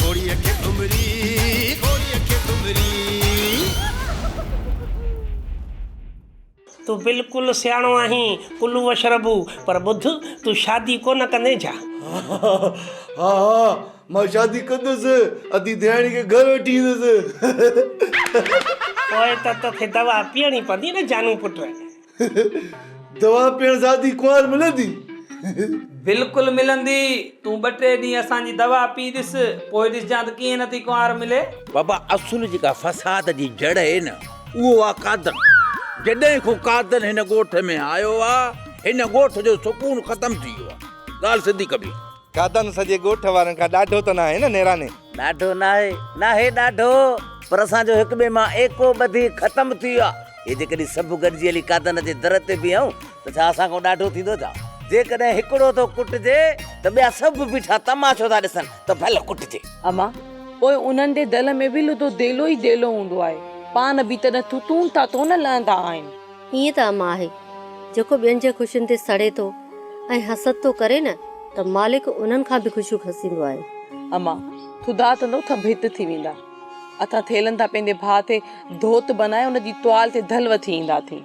گھوڙيء کي گھمري، گھوڙيء کي گھمري. تون بلڪل سياڻو آهين ڪلو وشربو پر ٻڌ تون شادي ڪونه ڪندين ڇا؟ ها ها مان شادي ڪندس ادي ديراڻي کي گھر وٺي ايندس. پوء ته توکي دوا پيئڻي پوندي نه جانو پٽ. دوا پيئڻ سان ٿي ڪنوار ملندي؟ بلڪل ملندي تون ٻه ٽي ڏينهن اسان جي دوا پي ڏس پوء ڏسجان ته ڪيئن نه ٿي ڪنوار ملي. بابا اصل جيڪا فساد جي جڙ اهي نه اهو آ قادن جڏهن کون قادن هن ڳوٺ ۾ آيو آ هن ڳوٺ جو سڪون ختم ٿي ويو آ ڳالھ سڌي ڪبي. کاڌن سڄي ڳوٺ وارن کان ڏاڍو ته ناهي نه نيراني. ڏاڍو ناهي، ناهي ڏاڍو، پر اسان جو هڪ ٻئي مان ايڪو ٻڌي ختم ٿي ويو آهي. هي جيڪڏهن سڀ گڏجي هلي کاڌن جي در تي بيهون ته ڇا اسان کان ڏاڍو ٿيندو ڇا؟ جيڪڏهن هڪڙو ٿو ڪٽجي ته ٻيا سڀ بيٺا تماشو ٿا ڏسن ته ڀل ڪٽجي. اما، پوء انهن جي دل ۾ به لڌو ديلو ئي ديلو هوندو آهي. پاڻ به تڏهن ٿوٿون ٿا ٿو نه لهندا آهن. ائين ته امان آهي، جيڪو ٻين جي خوشين تي سڙي ٿو ۽ حسد ٿو ڪري نه ته مالڪ انهن کان به خوشيون کسيندو آهي. امان، ٿڌا ٿڌو ٿڀ هت ٿي ويندا اٿا ٿيلن ٿا پنهنجي ڀاء تي ڌوت بنائي ان جي ٽوال تي ڌل وٿي ايندا اٿين.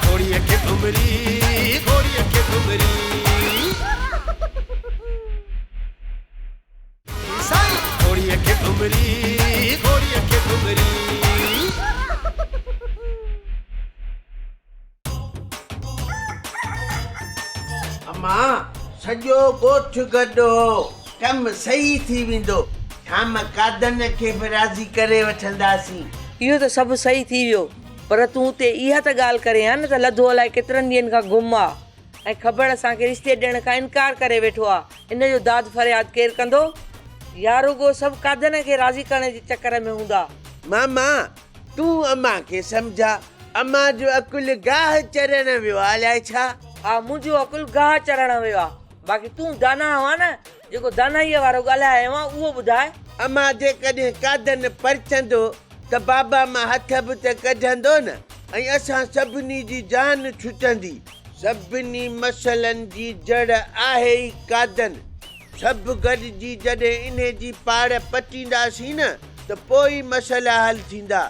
گهوڙيء کي ڀنڀري، گهوڙيء کي ڀنڀري. امان سڄو ڳوٺ گڏ هو ڪم صحيح ٿي ويندو شام قادن کي به راضي ڪري وٺنداسين. اهو ته سڀ صحيح ٿي ويو پر تون اتي اها ته ڳالهه ڪرين ها نه ته لڌو الائي ڪيترن ڏينهن کان گم آ. ۽ کبڙ اسان کي رشتي ڏيڻ کان انڪار ڪري ويٺو آ ان جو داد فرياد ڪير ڪندو يا رڳو سڀ قادن کي راضي ڪرڻ جي چڪر ۾ هوندا. ماما تون امان کي سمجھا امان جو عقل گاھ چرڻ ويو آ الاء ڇا. ھا منھنجو عقل گاھ چرڻ ويو آ باقي تون داناھ ھئان نه. جيڪو دانائيء وارو ڳالهايائين ها، اهو ٻڌاء. اما جيڪڏهن قادن پرچندو ته بابا مان هٿ به ته ڪڍندو نه ۽ اسان سڀني جي جان ڇٽندي. سڀني مسئلن جي جڙ آهي ئي قادن. سڀ گڏجي جڏهن انهي جي پاڙ پٽينداسين نه ته پوء ئي مسئلا حل ٿيندا.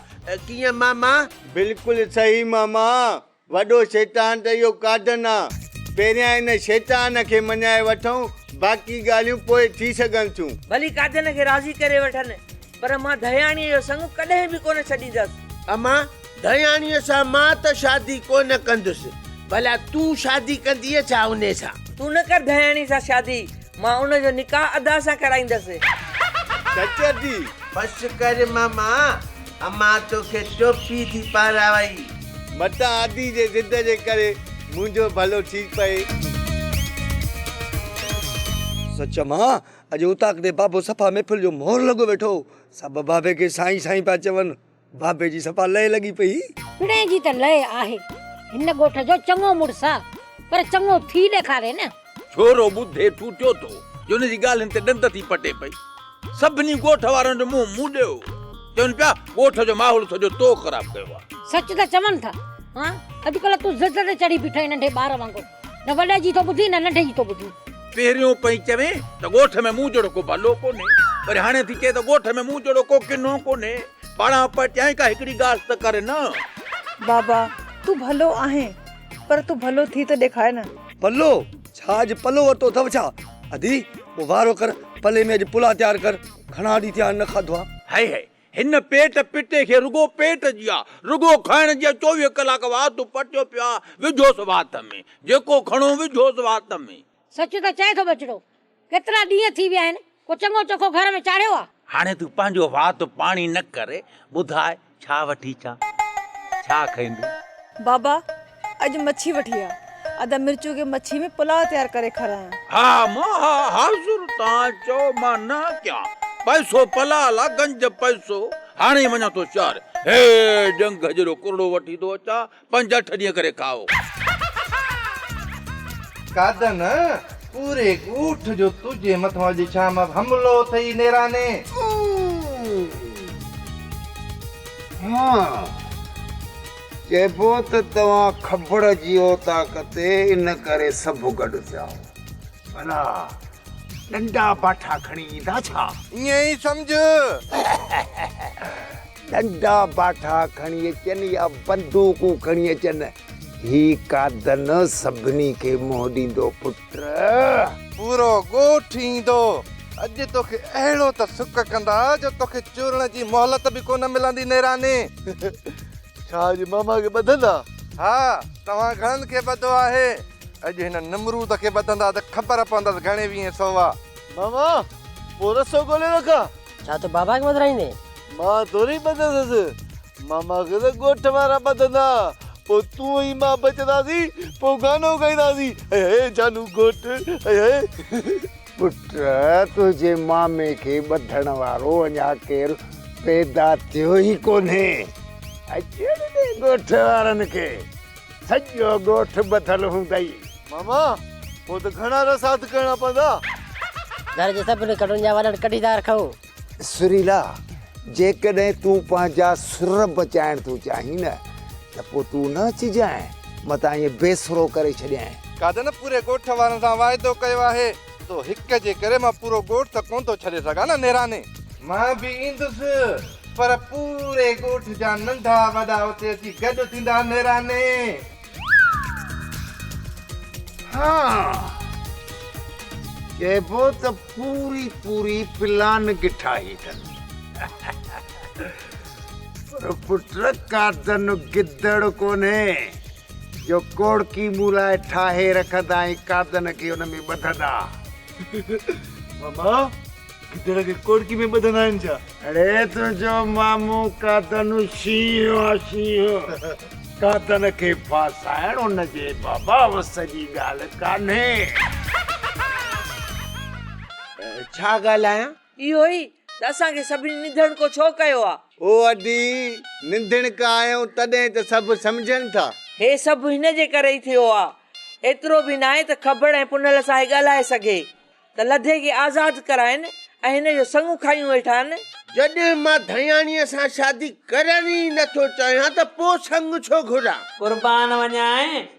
ڪيئن ماما؟ بلڪل صحيح ماما. وڏو شيطان ته اهو ڪاڌن آ. پهريان ان شيطان کي مڃائي وٺون، باقي ڳالهيون پوء ٿي سگهن ٿيون. ڀلي ڪاڌن کي راضي ڪري وٺن، پر مان ڌياڻيء جو سڱ ڪڏهن به ڪونه ڇڏيندس. امان، ڌياڻيء سان مان ته شادي ڪونه ڪندس، ڀلا تون شادي ڪندينء ڇا ان سان؟ تون نه ڪر ڌياڻيء سان شادي، مان ان جو نڪاح ادا سان ڪرائيندس. سچ ادي! بس ڪر ماما، امان توکي ٽوپي ٿي پارائي. متان عادي جي ضد جي ڪري منهنجو ڀلو ٿي پئي. سچ امان اڄ اوطاق تي بابو صفا محفل جو مور لڳو ويٺو هو. سڀ بابي کي سائين سائين پيا چون. بابي جي صفا لئه لڳي پئي. پڻهين جي ته لئه آهي. هن ڳوٺ جو چڱو مڙس آ پر چڱو ٿي ڏيکاري نه. ڇورو ٻڌي ٺوٺيو ٿو جو ان جي ڳالهين تي ڏند ٿي پٽي پئي. سڀني ڳوٺ وارن جو منهن موڏيو هو. چون پيا، ڳوٺ جو ماحول سڄو تو خراب ڪيو آهي. سچ ته چون ٿا. ها، اڄڪلهه تون ضد تي چڙهي بيٺو آهين ننڍي ٻار وانگر. نه وڏي جي ٿو ٻڌين نه ننڍي جي ٿو ٻڌين. پهريون پئين چوين ته ڳوٺ ۾ مون جهڙو ڪو ڀلو ڪونهي. وري هاڻي ٿي چئين ته ڳوٺ ۾ مون جهڙو ڪو ڪنو ڪونهي. پاڙان پٽيائين ڪا هڪڙي ڳالهه ته ڪر نه. بابا، تون ڀلو آهين پر تون ڀلو ٿي ته ڏيکار نه. پلو! ڇا اڄ پلو ورتو اٿئو ڇا؟ ادي، پوء وارو ڪر، پلي ۾ اڄ پلا تيار ڪر، گهڻا ڏينهن ٿيا آهن نه کاڌو آ. هئي هئي، هن پيٽ پٽي کي رڳو پيٽ جي آ، رڳو کائڻ جي آ، چوويهه ڪلاڪ وات پٽيو پيو آ، وجهوس وات ۾، جيڪو کڻو وجهوس وات ۾. سچ ته چئي ٿو ٻچڙو، ڪيترا ڏينهن ٿي ويا آهن، ڪو چڱو چوکو گهر ۾ چاڙهيو آ؟ هاڻي تون پنهنجو وات پاڻي نه ڪر، ٻڌاء ڇا وٺي اچان، ڇا کائيندين؟ بابا، اڄ مڇي وٺي آ، ادا مرچو کي مڇي ۾ پلاء تيار ڪري کارايان. ها مان ها حاضر، توهان چئو مان نه ڪيان، پئسو پلاء لا گنج پئسو، هاڻي وڃان ٿو شهر، هي ڄنگهه جيڏو ڪرڙو وٺي ٿو اچان، پنج اٺ ڏينهن ڪري کائو. کاڌن پوري ڳوٺ جو تنهنجي مٿان اڄ شام حملو اٿئي نيراني. ها چئبو ته توهان کبڙ جي اوطاق تي ان ڪري سڀ گڏ ٿيا هئا. ڀلا ڏنڊا باٺا کڻي ايندا ڇا؟ ائين ئي سمجهه. ڏنڊا باٺا کڻي اچن يا بندوقون کڻي اچن، هي قادن سڀني کي منهن ڏيندو، پٽ! پورو ڳوٺ ايندو. اڄ توکي اهڙو ته سڪ ڪندا جو توکي چورڻ جي مهلت به ڪونه ملندي نيراني. ڇا اڄ ماما کي ٻڌندا؟ ها، توهان گهڻن کي ٻڌو آهي. اڄ هن نمرود کي ٻڌندا ته خبر پوندس گهڻي ويهين سوا. ماما، پوء رسو ڳولي رکان؟ ڇا تون بابا کي ٻڌرائيندين؟ مان ٿوري ٻڌندس، ماما کي ته ڳوٺ وارا ٻڌندا، پوء تون ۽ مان بچنداسين، پوء گانو ڳائينداسين، هي هي جانو گهوٽ، هي هي. پٽ، تنهنجي مامي کي ٻڌڻ وارو اڃا ڪير پيدا ٿيو ئي ڪونهي. اچڻ ڏي ڳوٺ وارن کي. سڄو ڳوٺ ٻڌل هوندئي. ماما پوء ته گهڻا رس هٿ ڪرڻا پوندا. گهر جي سڀني ڪنڊن جا وڏن ڪڍي ٿا رکون. سريلا جيڪڏهن تون پنهنجا سر بچائڻ ٿو چاهين نه ته پوء تون نه اچجانء متان ائين بي سرو ڪري ڇڏيانء. ڪا ته نه پوري ڳوٺ وارن سان واعدو ڪيو آهي. تو هڪ جي ڪري مان پورو ڳوٺ ته ڪونه ٿو ڇڏي سگهان نه نيراني. مان به ايندس پر پوري ڳوٺ جا ننڍا وڏا اتي اچي گڏ ٿيندا نيراني. ها چئبو ته پوري پوري پلان گٺاهي اٿن پر پٽ قاتن گدڙ ڪونهي. جو ڪوڙڪي مون لاء ٺاهي رکندا ۽ قادن کي ان ۾ ٻڌندا. ماما گدڙ کي ڪوڙڪي ۾ ٻڌندا آهن ڇا؟ اڙي تنهنجو مامو قادن شينهن آ شينهن. قادن کي ڦاسائڻ ان جي بابا وس جي ڳالهه ڪانهي. ڇا ڳالهايان؟ اهو ئي ته اسان کي سڀني نڌڻڪو ڇو ڪيو آ؟ هو ادي، نڌڻڪا آهيون تڏهن ته سڀ سمجهن ٿا. هي سڀ هن جي ڪري ئي ٿيو آ. ايترو به ناهي ته کبڙ ۽ پنهل سان هي ڳالهائي سگهي ته لڌي کي آزاد ڪرائين ۽ هن جو سڱ کايون ويٺان. جڏهن مان ڌڻياڻيء سان شادي ڪرڻ ئي نه ٿو چاهيان ته پوء سڱ ڇو گهران؟ قربان وڃانء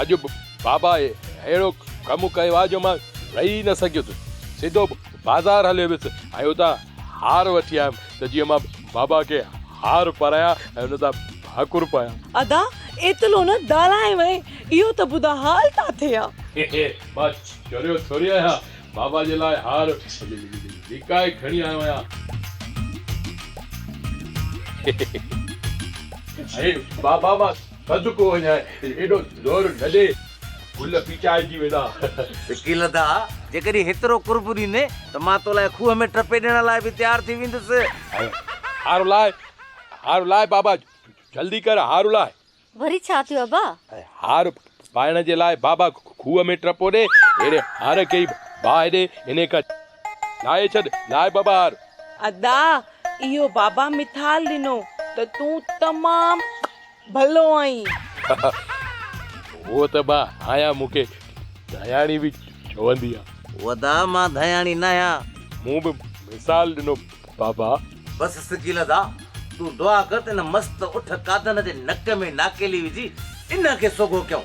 اڄ به بابا اهڙو ڪم ڪيو آهي جو مان رهي نه سگهيس، سڌو بازار هليو ويس ۽ اتان هار وٺي آيم ته جيئن مان بابا کي هار پرايان ۽ ان سان ڀاڪر پايان. ادا ايتلو نه ڳالهائي وئين، اهو ته ٻڌاء حال ٿا ٿئي ها. هي هي مان چريو ٿوري آهيان، بابا جي لاء هار لڪائي کڻي آيو آهيان. هي هي هي بابا مان صدقو وڃان ايڏو زور نه ڏي، گل پيچائجي ويندا. وڪيل ادا! جيڪڏهن هيترو قرب ڏيندين ته مان تو لاء کوهه ۾ ٽپي ڏيڻ لاء به تيار ٿي ويندس. هارو لاء، هارو لاء بابا، جلدي ڪر هارو لاء. وري ڇا ٿيو ابا؟ هار پائڻ جي لاء بابا کوهه ۾ ٽپو ڏي، اهڙي هار کي ئي باهه ڏي، انهي کان لاهي ڇڏ، لاء بابا هار. ادا! اهو بابا مثال ڏنو ته تون تمام ڀلو آهين. هوء ته با آهيان مون کي ڌياڻي به چوندي آ. ودا مان ڌياڻي ناهيان. مون به مثال ڏنو بابا. بس سگيل ادا تون دعا ڪر ته ان مست اٺ قادن جي نڪ ۾ ناڪيلي وجهي ان کي سوگهو ڪيون.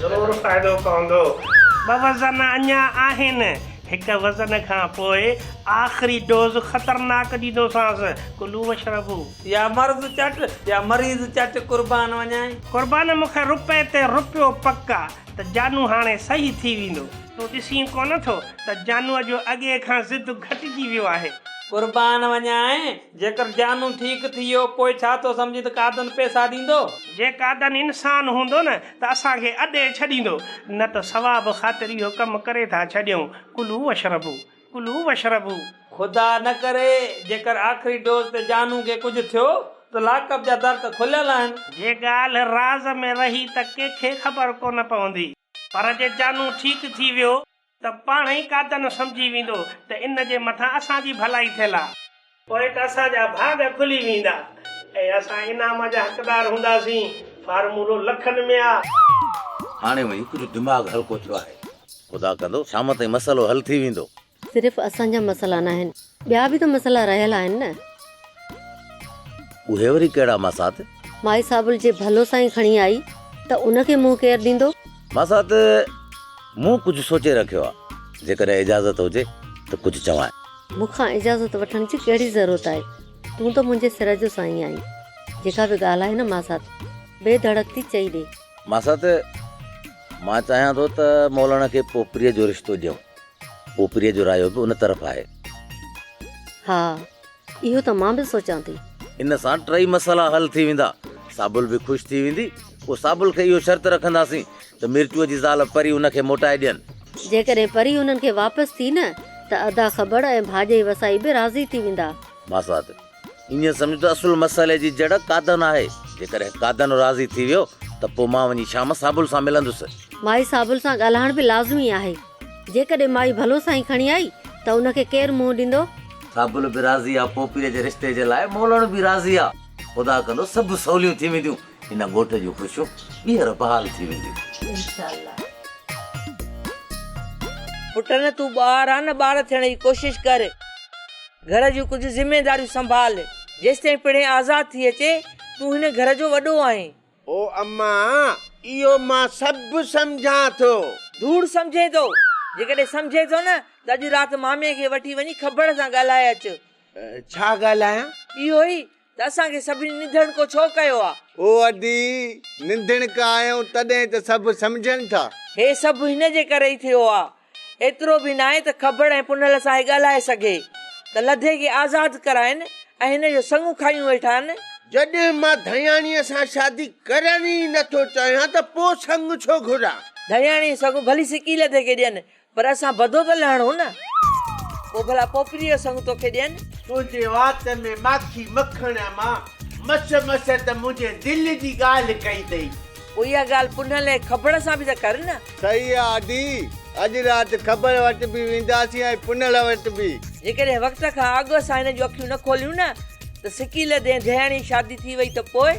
ضرور فائدو پوندو. ٻه وزن اڃا آهن. هڪ وزن کان پوء آخري ڊوز خطرناڪ ڏيندوسانس. ڪلو واشربو. يا مرض چٽ يا مريض چٽ قربان وڃائين. قربان مون کي رپئي تي رپيو پڪ آ ته جانو هاڻي صحيح ٿي ويندو. تون ڏسين ڪونه ٿو ته جانوء جو اڳي کان ضد گهٽجي ويو آهي. قربان وڃائين جيڪر جانو ٺيڪ ٿي ويو، پوء ڇا ٿو سمجهين ته قادن پئسا ڏيندو؟ جي قادن انسان هوندو نه ته اسان کي اڏي ڇڏيندو، نه ته ثواب خاطر اهو ڪم ڪري ٿا ڇڏيون، ڪلو واشربو، ڪلو واشربو. خدا نه ڪري، جيڪر آخري ڊوز تي جانو کي ڪجهه ٿيو ته لاڪ اپ جا در ته کليل آهن. جي ڳالهه راز ۾ رهي ته ڪنهن کي خبر ڪونه پوندي. پر جي جانو ٺيڪ ٿي ويو ته پاڻ ئي قادن سمجهي ويندو ته ان جي مٿان اسان جي ڀلائي ٿيل آ. پوء ته اسان جا ڀاڳ کلي ويندا ۽ اسان انعام جا حقدار هونداسين. فارمولو لکن ۾ آ. هاڻي وڃي ڪجهه دماغ هلڪو ٿيو آهي. خدا ڪندو شام تائين مسئلو حل ٿي ويندو. صرف اسان جا مسئلا ناهن. ٻيا به ته مسئلا رهيل آهن نه. اهي وري ڪهڙا ماسات؟ مائي صابل جي ڀلو سائين کڻي آئي ته ان کي منهن ڪير ڏيندو؟ ماسات مون ڪجهه سوچي رکيو آ جيڪڏهن اجازت هجي ته ڪجهه چوانء. مون کان اجازت وٺڻ جي ڪهڙي ضرورت آهي تون ته منهنجي سر جو سائين آهين جيڪا به ڳالهه آهي نه ماسات بي ڌڙڪ ٿي چئي ڏي. ماسات مان چاهيان ٿو ته مولاڻا کي پوپريء جو رشتو ڏيون. اوپري جو رايو به ان طرف آهي. ها اهو ته مان به سوچان ٿي. ان سان ٽئي مسئلا حل ٿي ويندا. سابل به خوش ٿي ويندي. پوء سابل کي اهو شرط رکنداسين ته ميرچوء جي زال پري ان کي موٽائي ڏين. جيڪڏهن پري انهن کي واپس ٿي نه ته ادا کٻڙ ۽ ڀاڄئي وسائي به راضي ٿي ويندا. ماسات، ائين سمجهه ته اصل مسئلي جي جڙ قادن آهي. جيڪڏهن قادن راضي ٿي ويو ته پوء مان وڃي شام صابل سان ملندس. مائي صابل سان ڳالهائڻ به لازمي آهي. جيڪڏهن مائي ڀلو سائين کڻي آئي ته ان کي ڪير منهن ڏيندو؟ صابل به راضي آ، پوپيء جي رشتي جي لاء مولڻ به راضي آ. خدا ڪندو سڀ سوليون ٿي وينديون. هن ڳوٺ جون خوشيون ٻيهر بحال ٿي وينديون. انشاء الله. پٽ نه تون ٻار آ نه ٻار ٿيڻ جي ڪوشش ڪر. گهر جون ڪجهه ذميداريون سنڀال، جيستائين پڻهين آزاد ٿي اچي، تون هن گهر جو وڏو آهين. او اما، اهو مان سڀ سمجهان ٿو. ڌوڙ سمجهين ٿو؟ جيڪڏهن سمجهين ٿو نه ته اڄ رات مامي کي وٺي وڃي کبڙ سان ڳالهائي اچ. ڇا ڳالهايان؟ اهو ئي ته اسان کي سڀني نڌڻڪو ڇو ڪيو آ؟ او ادي! نڌڻڪا آهيون تڏهن ته سڀ سمجهن ٿا. هي سڀ هن جي ڪري ئي ٿيو آ. ايترو به ناهي ته کبڙ ۽ پنهل سان هي ڳالهائي سگهي ته لڌي کي آزاد ڪرائين ۽ هن جو سڱ کايون ويٺان. جڏهن مان ڌياڻيء سان شادي ڪرڻ ئي نه ٿو چاهيان ته پوء سڱ ڇو گهران؟ ڌياڻي سڱ ڀلي سڪي لڌي کي ڏين پر اسان بدو ته لهڻو نه. پوء ڀلا پوپريء جو سڱ توکي ڏين. تنهنجي وات ۾ ماکي مکڻ امان. مس مس ته منهنجي دل جي ڳالهه ڪئي اٿئي. پوء اها ڳالهه پنهل ۽ کبڙ سان به ته ڪر نه. صحيح آ آدي. اڄ رات کبڙ وٽ به وينداسين ۽ پنهل وٽ به. جيڪڏهن وقت کان اڳ اسان هن جون اکيون نه کوليون نه ته سڪيل دين دهياڻي شادي ٿي وئي ته پوء؟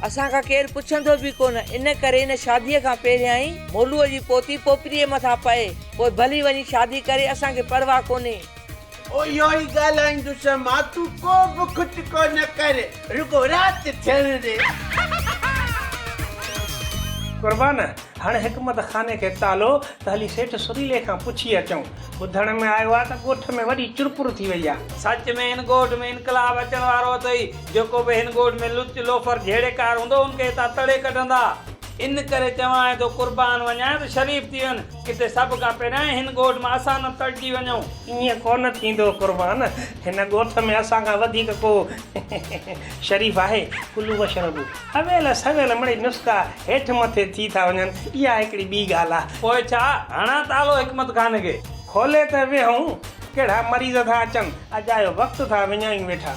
اسان کان ڪير پڇندو به ڪونه، ان ڪري هن شاديء کان پهريائين مولوء جي پوتي پوپريء مٿان پئي، پوء ڀلي وڃي شادي ڪري، اسان کي پرواهه ڪونهي. او اهو ئي ڳالهائيندس مان، تون ڪو به کٽڪو نه ڪر، رڳو رات ٿيڻ ڏي. قربان، هڻ حڪمت خاني کي تالو ته هلي سيٺ سريلي کان پڇي اچون. ٻڌڻ ۾ آيو آهي ته ڳوٺ ۾ وڏي چرپر ٿي وئي آهي. سچ ۾ هن ڳوٺ ۾ انقلاب اچڻ وارو اٿئي. جيڪو به هن ڳوٺ ۾ لچ، لوفر، جهيڙي ڪار هوندو هن کي هتان تڙي ڪڍندا. ان ڪري چوانء ٿو قربان وڃانء ته شريف ٿي وڃ، ڪٿي سڀ کان پهريائين هن ڳوٺ مان اسان نه تڙجي وڃون. ائين ڪونه ٿيندو قربان، هن ڳوٺ ۾ اسان کان وڌيڪ ڪو شريف آهي. ڪلو بشر به اويل سويل مڙئي نسخا هيٺ مٿي ٿي ٿا وڃن، اها هڪڙي ٻي ڳالهه آ. پوء ڇا، هڻان ته هلو حڪمت خانه کي. کولي ته ويهون، ڪهڙا مريض ٿا اچن، اجايو وقت ٿا وڃايون ويٺا.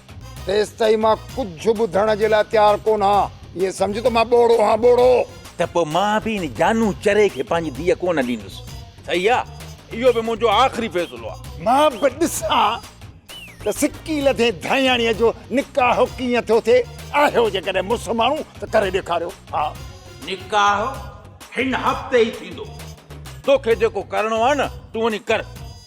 تيستائين مان ڪجهه ٻڌڻ جي لاء تيار ڪونه ها. ائين سمجهه ته مان ٻوڙو هان ٻوڙو. ته پوء مان به ان جانو چري کي پنهنجي ڌيء ڪونه ڏيندس. صحيح آ. اهو به منهنجو آخري فيصلو آ. مان به ڏسان ته سڪي لڌي ڌائياڻيء جو نڪاح ڪيئن ٿيو ٿئي. آهيو جيڪڏهن مڙس ماڻهو ته ڪري ڏيکاريو ها. نڪاح هن هفتي ئي ٿيندو. توکي جيڪو ڪرڻو آ نه تون وڃي ڪر.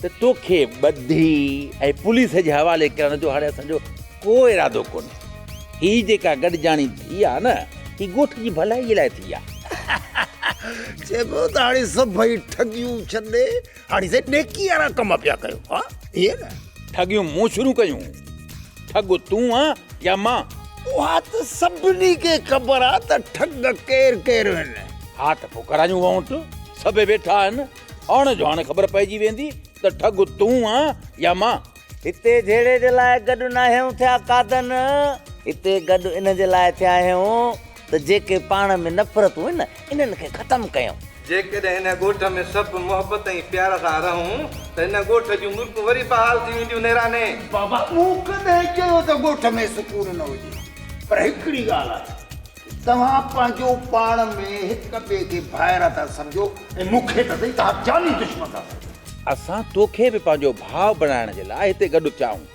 ته توکي ٻڌي ۽ پوليس جي حوالي ڪرڻ جو هاڻي اسان جو ڪو ارادو ڪونهي. هي جيڪا گڏجاڻي ٿي آهي نه هي ڳوٺ جي ڀلائي لاء ٿي آهي. چئبو ته هاڻي سڀئي ٺڳيون ڇڏي هاڻي سائين نيڪي وارا ڪم پيا ڪيو ها ائين نه. ٺڳيون مون شروع ڪيون ٺڳ تون آهين يا مان؟ اها ته سڀني کي خبر آهي ته ٺڳ ڪير ڪير آهن. ها ته پوء ڪرايون وونٽ سڀئي ويٺا آهن. هاڻ جو هاڻ خبر پئجي ويندي ته ٺڳ تون آن يا مان. هتي جهيڙي جي لاء گڏ ناهيون ٿيا قادن. هتي گڏ ان جي لاء ٿيا آهيون ته جيڪي پاڻ ۾ نفرتون آهن انهن کي ختم ڪيون. جيڪڏهن هن ڳوٺ ۾ سڀ محبت ۽ پيار سان رهون ته هن ڳوٺ جون ملڪون وري بحال ٿي وينديون نيراني. بابا مون ڪڏهن چيو ته ڳوٺ ۾ سڪون نه هجي پر هڪڙي ڳالهه آهي توهان پنهنجو پاڻ ۾ هڪ ٻئي کي ڀائر ٿا سمجهو ۽ مون کي ته سهي توهان جاني دشمن ٿا سمجهو. اسان تو کي به پنهنجو ڀاء بڻائڻ جي لاء هتي گڏ ٿيا آهيون.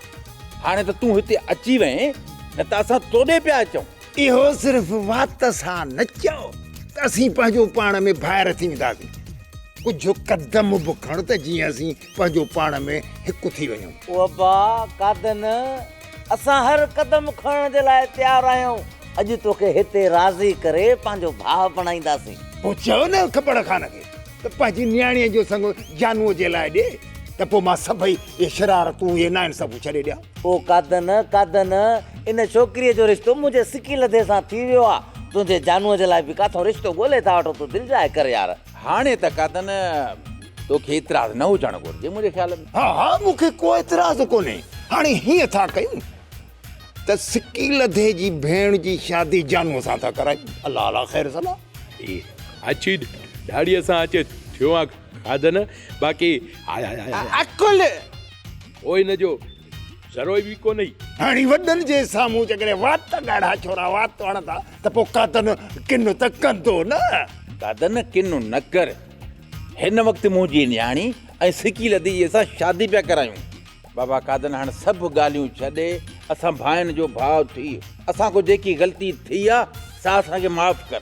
هاڻي ته تون هتي اچي وئين نه ته اسان تو ڏي پيا اچون. اهو صرف وات سان نه چئو ته اسين پنهنجو پاڻ ۾ ڀائر ٿي وينداسين. ڪجهه قدم به کڻ ته جيئن اسين پنهنجو پاڻ ۾ هڪ ٿي وڃون. او ابا قادن! اسان هر قدم کڻڻ جي لاء تيار آهيون. اڄ توکي هتي راضي ڪري پنهنجو ڀاء بڻائينداسين. پوء چيو نه کپڙ خان کي ته پنهنجي نياڻيء جو سڱو جانوء جي لاء ڏي ته پوء مان سڀئي اهي شرارتون، اهي ناانصافيون ڇڏي ڏيان. او قادن! قادن! ان ڇوڪريء جو رشتو منهنجي سڪي لڌي سان ٿي ويو آ. تنهنجي جانوء جي لاء به ڪاٿو رشتو ڳولي ٿا وٺون، تون دلجاء ڪر يار. هاڻي ته قدن توکي اعتراض نه هجڻ گهرجي منهنجي خيال ۾. ها ها مون کي ڪو اعتراض ڪونهي. هاڻي هيئن ٿا ڪيون ته سڪي لڌي جي ڀيڻ جي شادي جانوء سان ٿا ڪرايون. الله عليٰ خير صلاح. اي اچي ڏاڙهيء سان اچ ٿيو آ قدن باقي. عقل! او ان جو. ذروي به ڪو نهي. هاڻي وڏن جي سامهون جيڪڏهن وات ڳاڙها ڇورا وات توڙن ٿا ته پوء قادن ڪن ته ڪندو نه. قادن ڪن نه ڪر. هن وقت منهنجي نياڻي ۽ سڪي لڌيجي سان شادي پيا ڪرايون. بابا قادن هاڻ سڀ ڳالهيون ڇڏي اسان ڀائن جو ڀاء ٿي. اسان کان جيڪي غلطي ٿي آ سا اسان کي معاف ڪر.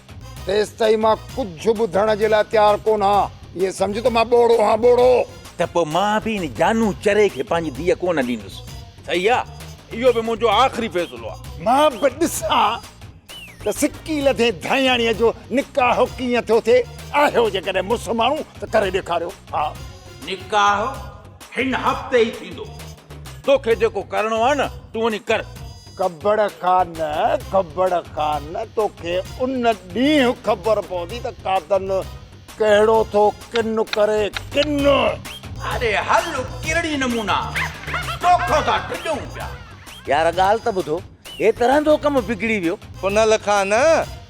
تيستائين مان ڪجهه ٻڌڻ جي لاء تيار ڪونه ها. ائين سمجهه ته مان ٻوڙو هان ٻوڙو. ته پوء مان به ان جانو چري کي پنهنجي ڌيء ڪونه ڏيندس. صحيح آ. اهو به منهنجو آخري فيصلو آ. مان به ڏسان ته سڪي لڌي ڌائياڻيء جو نڪاح ڪيئن ٿيو ٿئي. آهيو جيڪڏهن مڙس ماڻهو ته ڪري ڏيکاريو ها. نڪاح هن هفتي ئي ٿيندو. توکي جيڪو ڪرڻو آ نه تون وڃي ڪر. ڪٻڙ خان ڪٻڙ خان توکي ان ڏينهن خبر پوندي ته قاتل ڪهڙو ٿو ڪن ڪري ڪن اڙي هل ڪيڙي نمونا توکو ٿا ڊڄون پيا. يار ڳالهه ته ٻڌو هي ترهندو ڪم بگڙي ويو. پنهل خان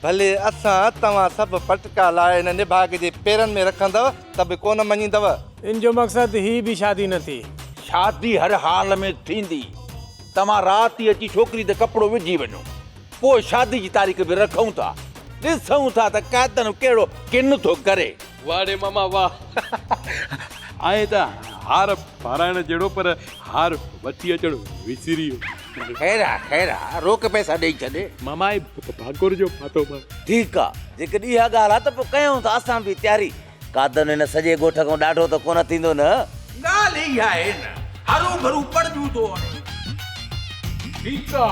ڀلي اسان توهان سڀ پٽڪا لاء ان نڀاڳ جي پيرن ۾ رکندؤ ته به ڪونه مڃيندؤ. ان جو مقصد هي به شادي نه ٿي. شادي هر حال ۾ ٿيندي. توهان رات ئي اچي ڇوڪري تي ڪپڙو وجهي وڃو، پوء شادي جي تاريخ به رکون ٿا. ڏسون ٿا ته قاتل ڪهڙو ڪن ٿو ڪري. واهه ڙي ماما واهه. آئين ته هار پارائڻ جهڙو پر هار وٺي اچڻ وسري ويو. خير آ خير آ روڪ پئسا ڏئي ڇڏ. ماما هي ڀاڪر جو ڦاتو مان. ٺيڪ آ جيڪڏهن اها ڳالهه آ ته پوء ڪيون ٿا اسان به تياري قادن هن سڄي ڳوٺ کان ڏاڍو ته ڪونه ٿيندو نه؟ ڳالهه اهي ئي آهي نه. هرو ڀرو پڙجون ٿو هڻي. ٺيڪ آ.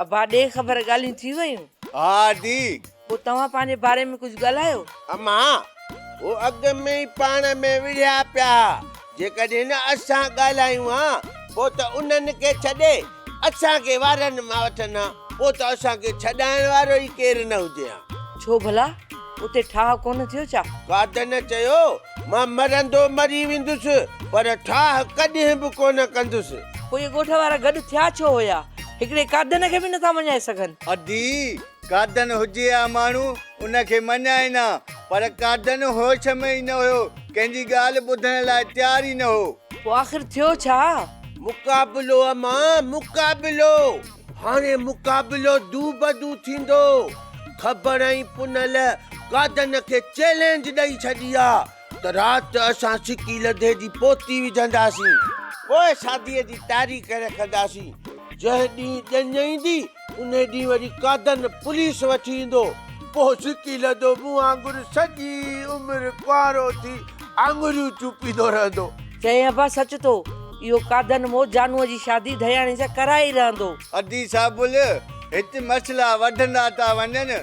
ابا ڏي خبر ڳالهيون ٿي ويون؟ ها ڙي پوء توهان پنهنجي باري ۾ ڪجهه ڳالهايو. اما، هو اڳ ۾ ئي پاڻ ۾ وڙهيا پيا ها. جيڪڏهن اسان ڳالهايون ها، پوء ته انهن کي ڇڏي، اسان کي وارن مان وٺن ها. پوء ته اسان کي ڇڏائڻ وارو ئي ڪير نه هجي ها. ڇو ڀلا؟ اتي ٺاهه ڪونه ٿيو ڇا؟ ڪادن چيو، مان مرندو مري ويندس، پر ٺاهه ڪڏهن به ڪونه ڪندس. پوء اهي ڳوٺ وارا گڏ ٿيا ڇو هيا؟ هڪڙي ڪادن کي به نٿا مڃائي سگهن. ادي، قادن هجي ها ماڻهو ان کي مڃائين ها، پر قادن هوش ۾ ئي نه هيو، ڪنهن جي ڳالهه ٻڌڻ لاء تيار ئي نه هو. پوء آخر ٿيو ڇا؟ مقابلو امان، مقابلو! هاڻي مقابلو دو بدو ٿيندو. کبڙ ۽ پنهل قادن کي چئلينج ڏئي ڇڏي ها ته رات اسان سڪي لڌي جي پوتي وجهنداسين، پوء شاديء جي تاريخ رکنداسين. جنهن ڏينهن ڄڃ ايندي، انهي ڏينهن وري قادن پوليس وٺي ايندو. پوء سڪي لڌو مون وانگر سڄي عمر ڪنوارو ٿي آڱريون چوپيندو رهندو. چيائين، ابا سچ ٿو، اهو قادن مون جانوء جي شادي ڌياڻي سان ڪرائي ئي رهندو. ادي صاحب بل هت مسئلا وڌندا ٿا وڃن.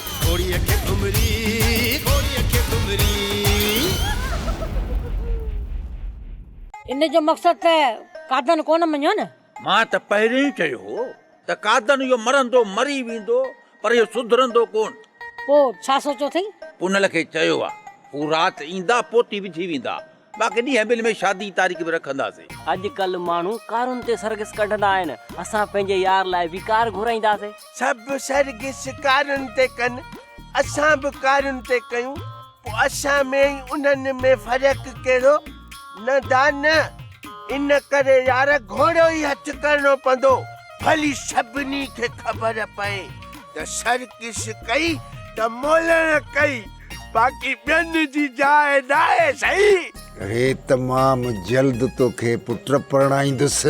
گھوڙيء کي گھمري، گھوڙيء کي گھمري. ان جو مقصد ته قادن ڪونه مڃيو نه. مان ته پهرين ئي چيو هو ته قادن اهو مرندو مري ويندو پر اهو سڌرندو ڪونه. پوء ڇا سوچيو اٿئي؟ پونل کي چيو آ، هو رات ايندا پوتي وجهي ويندا. باقي ڏينهن بل ۾ شادي جي تاريخ به رکنداسين. اڄ ڪلهه ماڻهو ڪارن تي سرگس ڪڍندا آهن، اسان پنهنجي يار لاء به ڪار گهرائينداسين. سڀ سرگس ڪارن تي ڪن، اسان به ڪارن تي ڪيون، پوء اسان ۾ ۽ انهن ۾ فرق ڪهڙو؟ نه دا نه! ان ڪري يار گهوڙو ئي هٿ ڪرڻو پوندو، ڀلي سڀني کي خبر پئي ته سرگس ڪئي ته مولڻ ڪئي. باقي ٻين جي جاء ناهي سائين. هي تمام جلد توکي پٽ پرڻائيندس.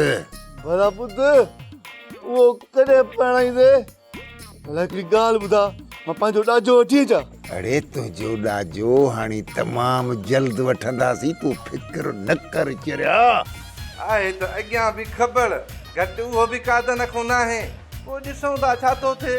ڀلا پٽ اهو ڪڏهن پرڻائيندين؟ ڀلا هڪڙي ڳالهه ٻڌاء مان پنهنجو ڏاجو وٺي اچان. اڙي تنهنجو ڏاجو هاڻي تمام جلد وٺنداسين تون فڪر نه ڪر چريا. آهي ته اڳيان به کٻڙ گهٽ اهو به ڪا دنکون ناهي. پوء ڏسون ٿا ڇا ٿو ٿئي.